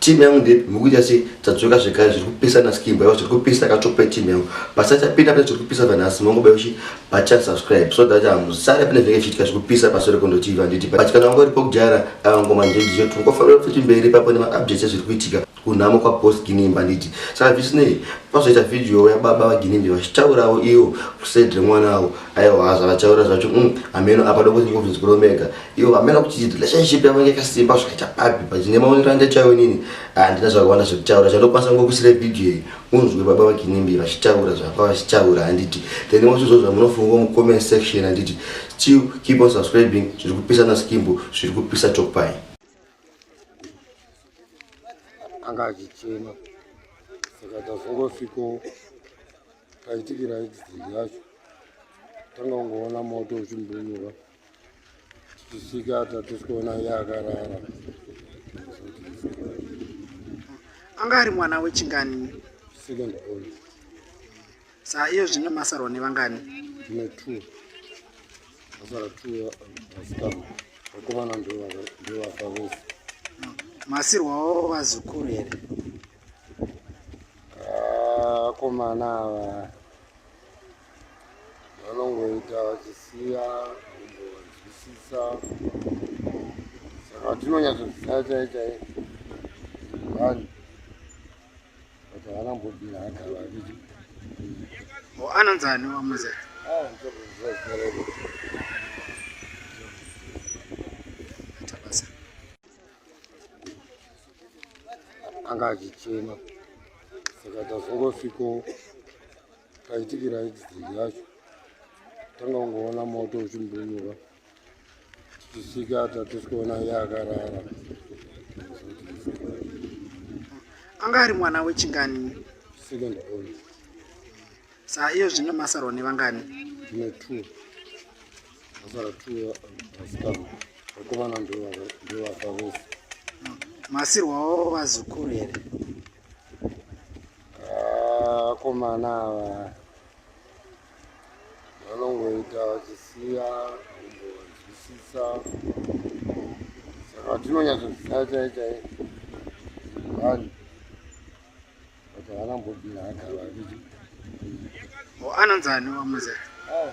team yangu ndepi mukuita sei tadzoka zvekare zviri kupisa naskimbo yavo zviri kupisa katope team yangu pasachapinda pane zviri kupisa vanhasi mongobai uchi bachan subscribe so that hamusare pane zvenge chiitika zviri kupisa pasore kondotivi handiti but kana wanga uripo kudhara avangoma njendicho tingofanira kuti mberi papo nemaupdates ezviri kuitika kunhamo kwaboss ginimbi handiti saka zvisinei pazoita vhidhiyo yababa vaginimbi vachitaurawo iwo kuside remwana avo aiwa zvavataura zvacho mm, hameno apa dokotingovinzi kuromega Yo, hamena kuti relationship yavo yanga yakasimba zvakaita papi but nemaonero anda chaiwo nini handina zvakawanda zvekutaura chandokwanisa ngokusira video iyi unzwe baba vakinimbi vachitaura zvapa vachitaura handiti then wose zvo zvamunofunga mucomment section handiti still keep on subscribing zviri kupisa naskimbo zviri kupisa topai anga achichema saka tazongosviko taitikira exit yacho tanga ungoona moto uchimbunura Tichisvika tatisi kuona iye akarara. Anga ari mwana wechingani? Second born. Saa iyo zvino masarwa nevangani? Tine two. Masara two vasikana. Vakomana ndovafa vese. Masirwawo vazukuru here? Vakomana ah, ava. vanongoita vachisiya kumbonzwisisa saka tinonyatsoziva chai chai vanhu kuti havana mbobira agara vaviri anonzi ani wamuze ah, anga achichema saka tazongosviko paitikira accident yacho tanga kungoona moto uchimbunyuka tichisvika tatosikuona iye akarara anga ari mwana wechingani second born sa iyo zvino masarwa nevangani ne two masara two vasikana vakomana ndovaka vese masirwawo vazukuru here vakomana ah, ava vanongoita vachisiya kumbonzwisisa saka tinonyatsoziva chaichai vanhu but havana mbobira agava vichi anonzani wamuze ah,